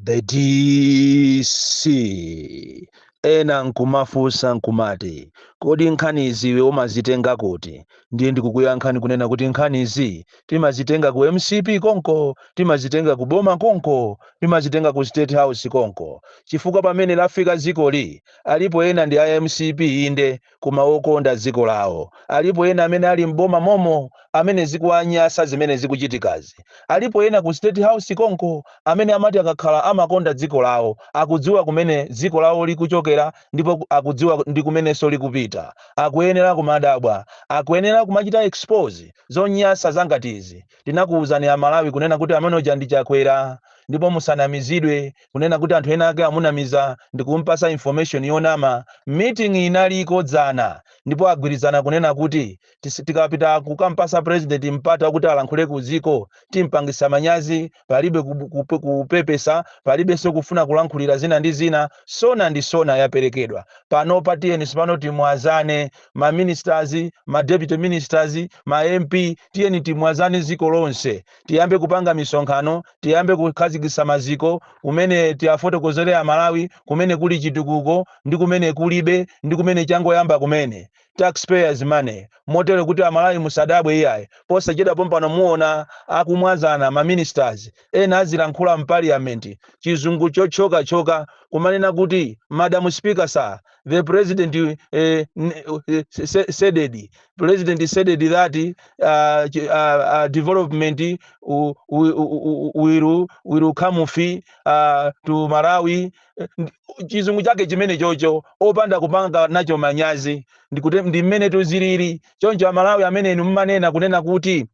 the dc ena nkumafunsa nkumati kodi nkhanizi iwe umazitenga kuti ndiye ndikukuyankhani kunena kuti nkhanizi timazitenga ku mcp konko timazitenga ku boma konko timazitenga ku state house konko chifukwa pamene lafika zikoli alipo ena ndi a mcp inde koma wokonda dziko lawo. Alipo ena amene ali m'boma momo amene zikuwanyasa zimene zikuchitikazi. Alipo ena ku state house konko amene amati akakhala amakonda dziko lawo. Akudziwa kumene dziko lawo likuchokera ndipo akudziwa ndi kumenenso likupita. Akuyenera kumadabwa. Akuyenera kumachita expose zonyansa zangati izi. Tinakuuzani a Malawi kunena kuti amene uja ndi Chakwera ndipo musanamizidwe. kunena kuti anthu ena ake amunamiza ndikumpasa information yonama, meeting inaliko dzana ndipo agwirizana kunena kuti tis, tikapita kukampasa president mpata okuti alankhule ku dziko timpangisa manyazi, palibe ku, ku, kupepesa, palibenso kufuna kulankhulira zina ndi zina, SONA ndi SONA yaperekedwa. Panopa tiyeni tsopano timwazane ma ministers, ma deputy ministers, ma MP, tiyeni timwazane dziko lonse, tiyambe kupanga misonkhano, tiyambe kukhazikitsa maziko kumene tiwafotokozere amalawi kumene kuli chitukuko ndi kumene kulibe ndi kumene changoyamba kumene tax payers money motero kuti amalawi musadabwe iyayi posachedwa pompano muona akumwazana ma ministers ena azilankhula m'paliyamenti chizungu chotchokatchoka kumanena kuti madam speaker sir the president uh, uh, said it. president said it that uh, ch- uh, uh, development uh, will, will, will come fi uh, to malawi Eh, ndi- chizungu chake chimene chocho opanda kupanga nacho manyazi ndikute ndi mmene tuzilili choncho amalawi amene inu mmanena kunena kuti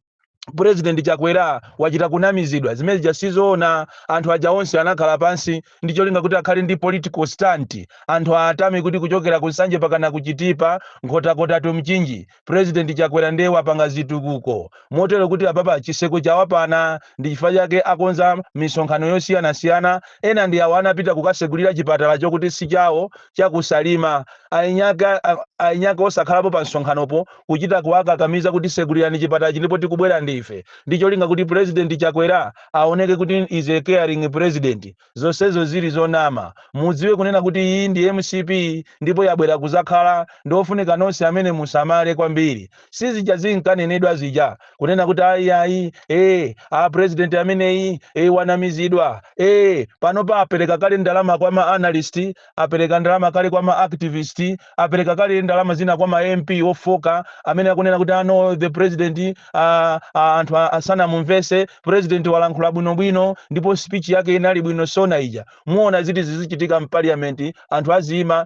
President Chakwera wachita kunamizidwa zimene zija sizoona. Anthu aja onse anakhala pansi ndi cholinga kuti akhale ndi political stunt, anthu aatame kuti kuchokera ku Nsanje pakana ku Chitipa, Nkhotakota to Mchinji, President Chakwera ndiye wapanga zitukuko. Motero kuti apapa chiseko chawapana ndi chifukwa chake akonza misonkhano yosiyanasiyana. Ena ndi awa anapita kukasegulira chipatala choti si chawo. cha ku Salima eniake eniake osakhalapo pa msonkhanopo kuchita kuwakakamiza kuti segulirani chipatalachi ndipo tikubwera ndife ndi cholinga kuti President Chakwera aoneke kuti is a caring President. Zonsezo zili zonama. Mudziwe kunena kuti iyi ndi mcp ndipo yabwera kuzakhala ndi ofunika nonse amene musamale kwambiri. sizija zinkanenedwa zija kunena kuti ayi ayi eh a president ameneyi eh wanamizidwa eh panopa apereka kale ndalama kwa ma analyst apereka ndalama kale kwa ma activist apereka kale ndalama zina kwa ma MP ofoka amene akunena kuti oh no the president ah, ah, anthu a- asanamumvese president walankhula bwino bwino ndipo speech yake inali bwino sona ija mumaona zili kuchitika mu parliament anthu aziima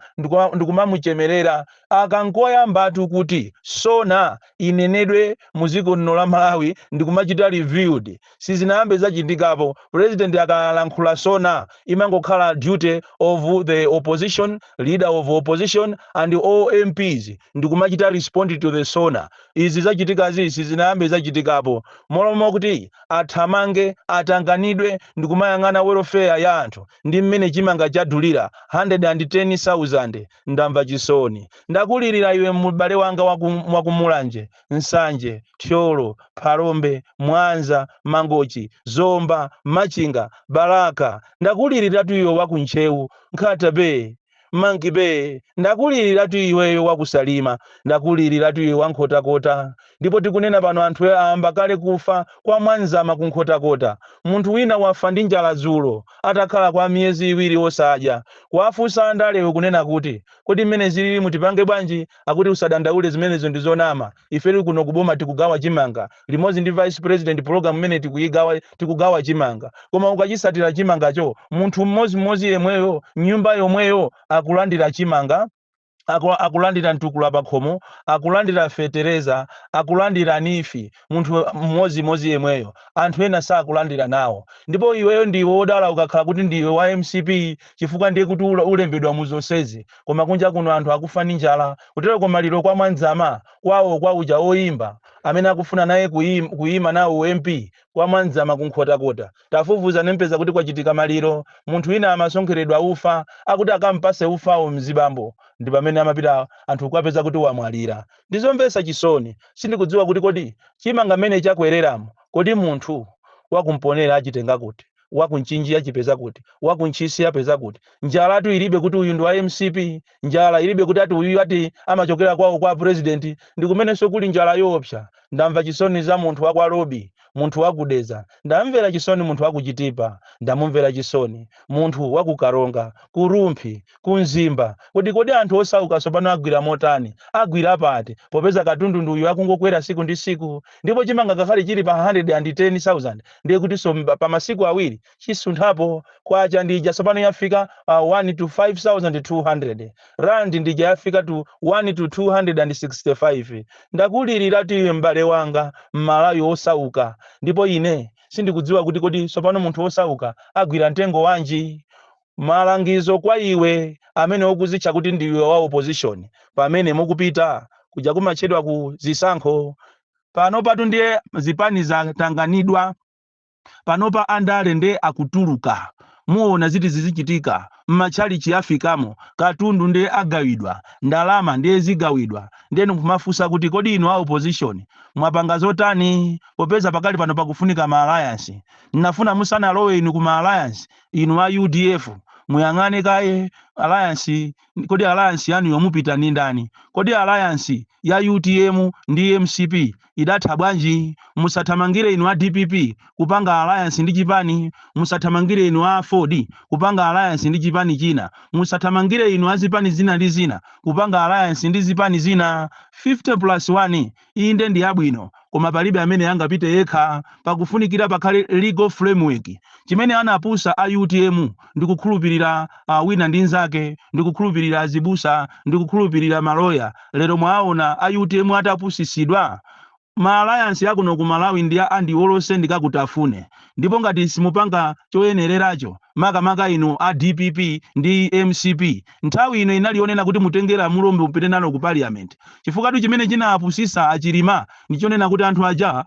ndikumamuchemerera Aka nkoyambatu kuti SONA inenedwe mu dziko muno la Malawi ndikumachita reviewed. Sizinayambe zachitikapo. President akalankhula SONA imangokhala duty of the opposition, leader of opposition and all MPs ndikumachita respond to the SONA. Izi zachitikazi sizinayambe zachitikapo. Mmalo mokuti athamange, atanganidwe ndikumayang'ana welfare ya anthu ndi mmene chimanga chadulira, 110,000. Ndamva chisoni. Ndakulirira iwe m'bale wanga waku waku Mulanje, Nsanje, Thyolo, Phalombe, Mwanza, Mangochi, Zomba, Machinga, Balaka. Ndakuliriratu iwe waku Ntcheu, Nkhata bay, Monkey bay. Ndakuliriratu iweyo waku Salima. Ndakuliriratu iwe wa Nkhotakota. Ndipo tikunena pano anthu ayamba kale kufa kwa Mwadzama ku Nkhotakota. Munthu wina wafa ndi njala dzulo atakhala kwa miyezi iwiri osadya. Kuwafunsa andalewo kunena kuti kodi mmene zililimu tipange bwanji akuti usadandaule zimenezo ndi zonama ifetu kuno ku boma tikugawa chimanga limodzi ndi vice president program imene tikuyigawa tikugawa chimanga koma ukachitsatira chimangacho munthu mmodzimodzi yemweyo nyumba yomweyo akulandira chimanga aku- akulandira mtukula pa khomo akulandira fetereza akulandira NEEF munthu mmodzimodzi yemweyo anthu ena sakulandira nawo ndipo iweyo ndiwe wodala ukakhala kuti ndiwe wa mcp chifukwa ndiye kuti ula- ulembedwa mu zonsezi koma kunja kuno anthu akufa ndi njala kuteroko maliro kwa mwadzama kwawo kwa uja oyimba amene akufuna naye kuyim- kuyima nawo u-mp kwa mwadzama kunkhotakota Tafufuzani mupeza kuti kwachitika maliro, munthu wina amasonkheredwa ufa akuti akam'pase ufawo mzibambo ndipamene amapita anthu kukapeza kuti wamwalira. Ndizomvesa chisoni, sindikudziwa kuti kodi chimanga mmene chakwereramo kodi munthu wa ku Mponela achitenga kuti? Wa ku Mchinji achipeza kuti? Wa ku Ntchisi apeza kuti? Njalatu ilibe kuti uyu ndi wa mcp? njala ilibe kuti ati uyuyu ati amachokera kwawo kwa a president ndikumenenso kuli njala yoopsa ndamva chisoni za munthu wa kwa lobi munthu wa ku dedza ndamvera chisoni munthu wa ku chitipa ndamumvera chisoni munthu wa ku karonga ku rumphi ku mzimba kodi kodi anthu osauka tsopano agwira motani agwira pati popeza katundu ndi uyu akungokwera siku ndi siku ndipo chimanga ngakhale chili pa 110000 ndiye kutinso mba- pa masiku awiri chisunthirepo kwacha ndija tsopano yafika uh, 1 to 200 rand ndija yafika to 1 to 265 ndakuliriratu iwe m'bale wanga m'malawi osauka ndipo ine sindikudziwa kuti kodi tsopano munthu osauka agwira mtengo wanji malangizo kwa iwe amene ukuzitcha kuti ndiwe wa opposition pamene mukupita kuja kumatchedwa ku zisankho pano patu ndiye zipani zatanganidwa panopa andale nde akutuluka muona ziti zizichitika mmachalichi afikemo katundu nde agawidwa ndalama ndiye zigawidwa ndiye nkumafunsa kuti kodi inu a opposition mwapanga zotani popeza pakali pano pakufunika ma alliance ndinafuna musanalowe inu ku ma alliance inu a udf muyang'ane kaye alliance Kodi alliance yanu yo mupita ndi ndani? Kodi alliance ya utm ndi mcp idatha bwanji? Musathamangire inu a dpp kupanga alliance ndi chipani. Musathamangire inu a aford kupanga alliance ndi chipani china. Musathamangire inu a zipani zina ndi zina kupanga alliance ndi zipani zina. 50 plus 1 Inde ndi yabwino, koma palibe amene angapite yekha. Pakufunikira pakhale legal framework. Chimene anapusa a utm ndikukhulupilira wina ndi nzake, ndikukhulupilira azibusa, ndikukhulupilira ma lawyer. Lero mwaawona a utm atapusisidwa? Ma alliance akuno ku Malawi ndi a andiwolose ndikakutafune. Ndipo ngati simupanga choyenereracho, makamaka inu a dpp ndi mcp, Nthawi ino inali yonena kuti mutenge lamulo mupite nalo ku Parliament chifukwatu chimene chinapusisa a Chilima ndi chonena kuti anthu aja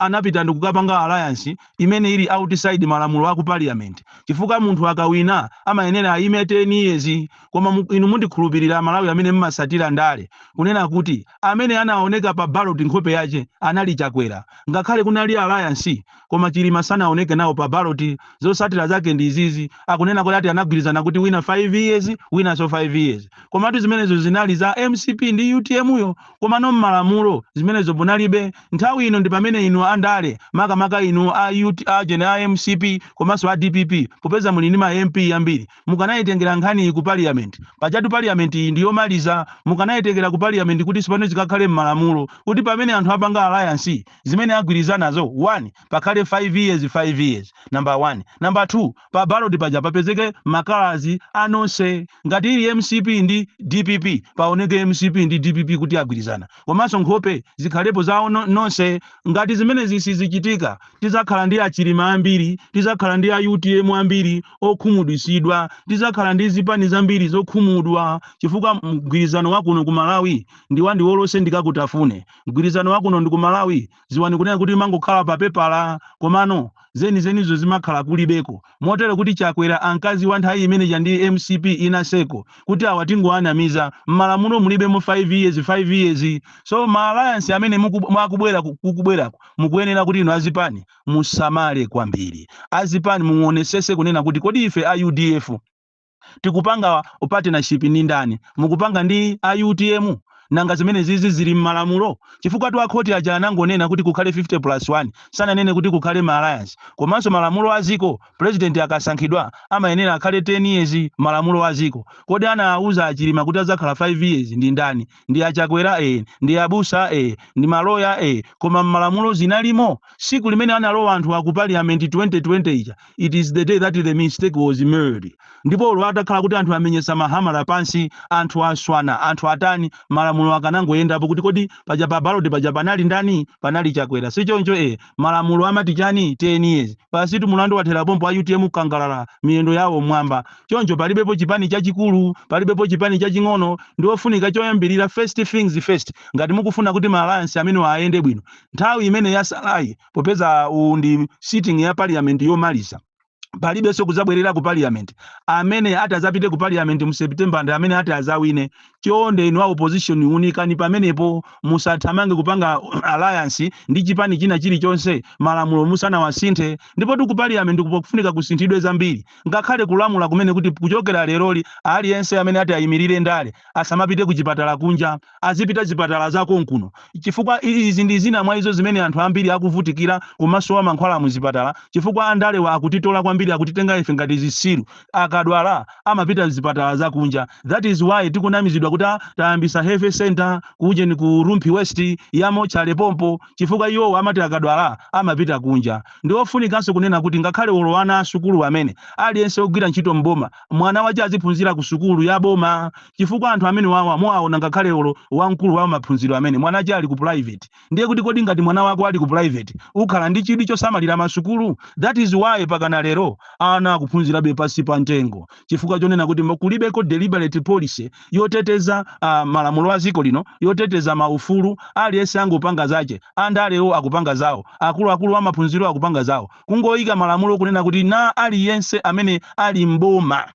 anapita ndikukapanga alliance imene ili outside malamulo a ku Parliament chifukwa munthu akawina amayenera ayime 10 years koma inu mundikhulupilire a Malawi amene mmasatira ndale kunena kuti amene anaoneka pa ballot nkhope yache anali Chakwera ngakhale kunali alliance koma chilima sanaoneke nawo pa ballot zosatila zake ndi izizi akunena kuti ati anagwirizana kuti wina 5 years winaso 5 years komatu zimenezo zinali za mcp ndi utm yo komano mmalamulo zimenezo munalibe nthawi ino ndi pamene inu andale makamaka inu a UT ujeni a mcp komanso a dpp popeza muli ndi ma mp ambiri mukanayitengera nkhani iyi ku parliament pajatu parliament iyi ndi yomaliza mukanayitengera ku parliament kuti tsopano zikakhale mmalamulo kuti pamene anthu apanga alliance zimene agwirizanazo 1 pakhale 5 years 5 years number 1 number 2 pa ballot paja papezeke ma colours a nonse ngati ili mcp ndi dpp paoneke mcp ndi dpp kuti agwirizana komanso nkhope zikhalepo za onse ngati zimenezi sizichitika tizakhala ndi achilima ambiri tizakhala ndi a utm ambiri okhumudwitsidwa tizakhala ndi zipani zambiri zokhumudwa chifukwa mgwirizano wakuno ku malawi ndiwandiwolose ndikakutafune Mgwirizano wa kuno ndi ku Malawi dziwani kunena kuti imangokhala pa pepala komano zenizenizo zimakhala kulibeko motero kuti Chakwera ankaziwa nthawi imene ija ndi mcp inaseko kuti awa tingowanamiza, mmalamulo mulibemo 5 years 5 years so ma alliance amenewa akubwera kukubweraku mukuyenera kuti inu azipani musamale kwambiri. Azipani muwonesese kunena kuti kodi ife a udf. tikupanga partnership ndi ndani? Mukupanga ndi a utm? Nanga zimenezizi zili mmalamulo? Chifukwatu a khoti aja anangonena kuti kukhale 50 plus 1, sananene kuti kukhale ma alliance. Komanso malamulo a dziko, president akasankhidwa amayenera akhale 10 years, malamulo a dziko. Kodi anawauza a Chilima kuti adzakhala 5 years ndi ndani? Ndi a Chakwera? Eeh. Ndi a busa? Eeh. Ndi ma lawyer? Eeh. Koma mmalamulo zinalimo? Tsiku limene analowa anthuwa ku parliament 2020 ija, it is the day that the mistake was made ndipo olo atakhala kuti anthu amenyesa makamaka pansi anthu aswana anthu atani malamulo akanangoyendapo kuti kodi paja pa baloti paja panali ndani panali chakwera si choncho e malamulo amati chani 10 years basitu mulandu wathera pompo a utm kukangalala miyendo yawo mwamba choncho palibepo chipani chachikulu palibepo chipani chaching'ono ndi ofunika choyambirira first things first ngati mukufuna kuti ma alliance amenewa ayende bwino nthawi imene yasalayi popeza uwu ndi sitting ya parliament yomaliza palibenso kudzabwerera ku parliament amene ati adzapite ku parliament mu september ndi amene ati adzawine chonde inu a opposition unikani pamenepo musathamange kupanga alliance ndi chipani china chilichonse malamulo musanawasinthe ndipo tu ku parliament kukufunika kusinthidwe zambiri ngakhale kulamula kumene kuti kuchokera leroli aliyense amene ati ayimirire ndale asamapite ku chipatala kunja azipita zipatala za konkuno chifukwa izi ndi zina mwa izo zimene anthu ambiri akuvutikira kumasowa mankhwala mu zipatala chifukwa andalewa akutitola kwambiri akutitenga ife ngati zisiru akadwala amapita mzipatala za kunja that is why tikunamizidwa kuti "Ah, tayambisa health center kujeni ku rumphi west yamo chale pompo chifukwa iwowo amati akadwala amapita kunja ndi ofunikanso kunena kuti ngakhale olo ana asukulu amene aliyense ogwira ntchito mboma mwana wache aziphunzira ku sukulu ya boma chifukwa anthu amenewawa muwaona ngakhale olo wamkulu wa maphunziro amene mwanache ali ku private ndiye kuti kodi ngati mwana wako ali ku private ukhala ndi chidwi chosamalira ma sukulu? That is why pakana lero ana akuphunzirabe pansi pa mtengo chifukwa chonena kuti kulibeko deliberate policy yoteteza malamulo a dziko lino yoteteza ma ufulu aliyense angopanga zache, andalewo akupanga zawo, akuluakulu wa maphunziro akupanga zawo kungoika malamulo kunena kuti na aliyense amene ali m'boma.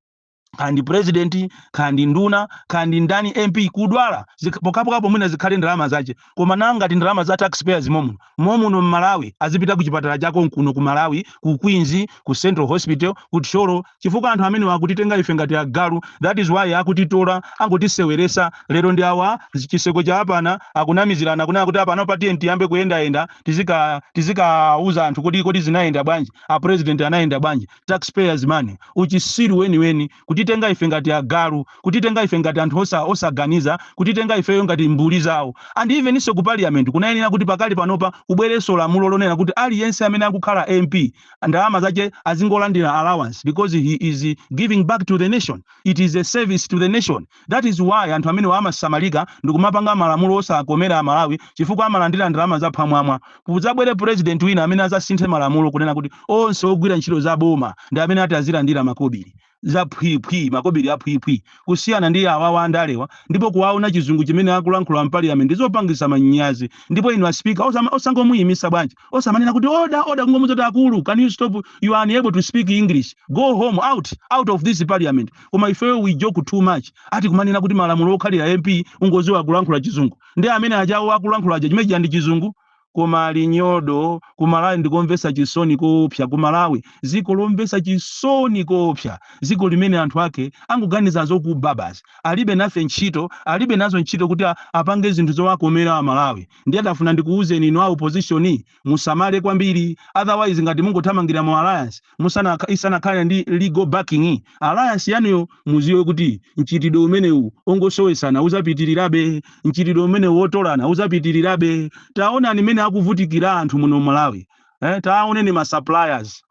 kaya ndi president kaya ndi nduna kaya ndi ndani mp kudwala zikh- pokapokapo mwina zikhale ndalama zache koma nanga ngati ndalama za taxpayers momuno momuno mmalawi azipita ku chipatala cha konkuno ku malawi ku queens ku central hospital ku thyolo chifukwa anthu amene akutitenga ife ngati agalu that is why akutitola angotiseweresa lero ndi awa zi- chiseko cha apana akunamizirana akunena kuti apana patiye tiyambe kuyendayenda tizika- tizikauza anthu kuti kodi zinayenda bwanji a president anayenda bwanji taxpayers money, uchisiru weniweni, kutitenga ife ngati agalu, kutitenga ife ngati anthu osa- osaganiza, kutitenga ifeyo ngati mbuli zawo. And even so ku parliament kunayenera kuti pakali panopa kubwerenso lamulo lonena kuti aliyense amene akukhala MP ndalama zache azingolandira allowance because he is giving back to the nation. It is a service to the nation. That is why anthu amenewa amasamalika ndikumapanga malamulo osakomera a Malawi chifukwa amalandira ndalama za phwamwamwa. Kuzabwere president wina amene azasinthe malamulo kunena kuti onse ogwira ntchito za boma ndi amene ati azilandira makobili. Za phwii phwii, makobili a phwii phwii. Kusiyana ndi awawa andalewa ndipo kuwaona chizungu chimene akulankhula m'parliament ndi zopangisa manyazi. Ndipo inu a speaker osama- osangomuyimisa bwanji? osamanena kuti order order kungomuuza kuti akulu can you stop you are unable to speak english go home out out of this parliament koma ifeyo we joke too much ati kumanena kuti malamulo okhalira mp ungoziwa kulankhula chizungu ndiye mmene achawa akulankhulira aja chimene chija ndi chizungu koma ali nyodo ku malawi ndikomvesa chisoni koopsa ku malawi ziko lomvesa chisoni koopsa ziko limene anthu ake angoganiza zokuba basi alibe nafe ntchito alibe nazo ntchito kuti a- apange zinthu zowakomera amalawi Ndiye ndafuna ndikuuzeni inu a opposition musamale kwambiri otherwise ngati mungothamangira mu alliance musana- isanakhale ndi legal backing alliance yanuyo muziwe kuti mchitidwe umenewu ongosowesana uzapitirirabe mchitidwe umenewu wotolana uzapitirirabe taonani mmene akuvutikira anthu muno Malawi eh, taoneni ma suppliers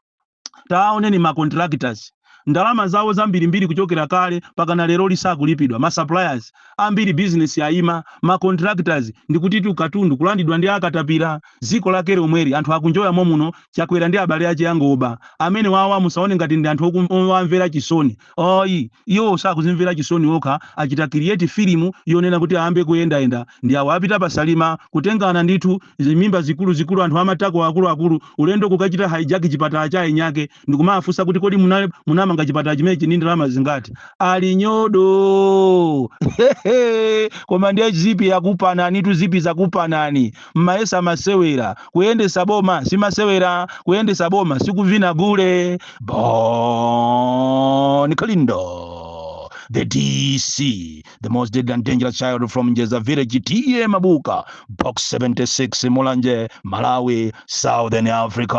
taoneni ma contractors ndalama zawo zambirimbiri kuchokera kale pakana lero sizikulipidwa ma suppliers ambiri business yaima ma contractors ndikutitu katundu kulandidwa ndi akatapira ziko lake lomweli anthu akunjoya momuno chakwera ndi abale ache angoba amenewawa musaone ngati ndi anthu okum- owamvera chisoni ayi iwo sakuzimvera chisoni okha achita create filimu yonena kuti ayambe kuyendayenda ndi awo apita pasalima kutengana ndithu zimimba zikuluzikulu, anthu a matako akuluakulu, ulendo kukachita hijack chipatala cha eniyake ndikumawafunsa kuti kodi muna- munamanga chipatala chimenechi ndi ndalama zingati? Ali nyodo! Koma ndiye zipi yakupananitu, zipi zakupanani. Mmayesa masewera. Kuyendesa boma si masewera, kuyendesa boma si kuvina gule. Bon Kalindo, the DC. the most deadly and dangerous child from Njeza village TA Mabuka box 76 Mulanje Malawi Southern Africa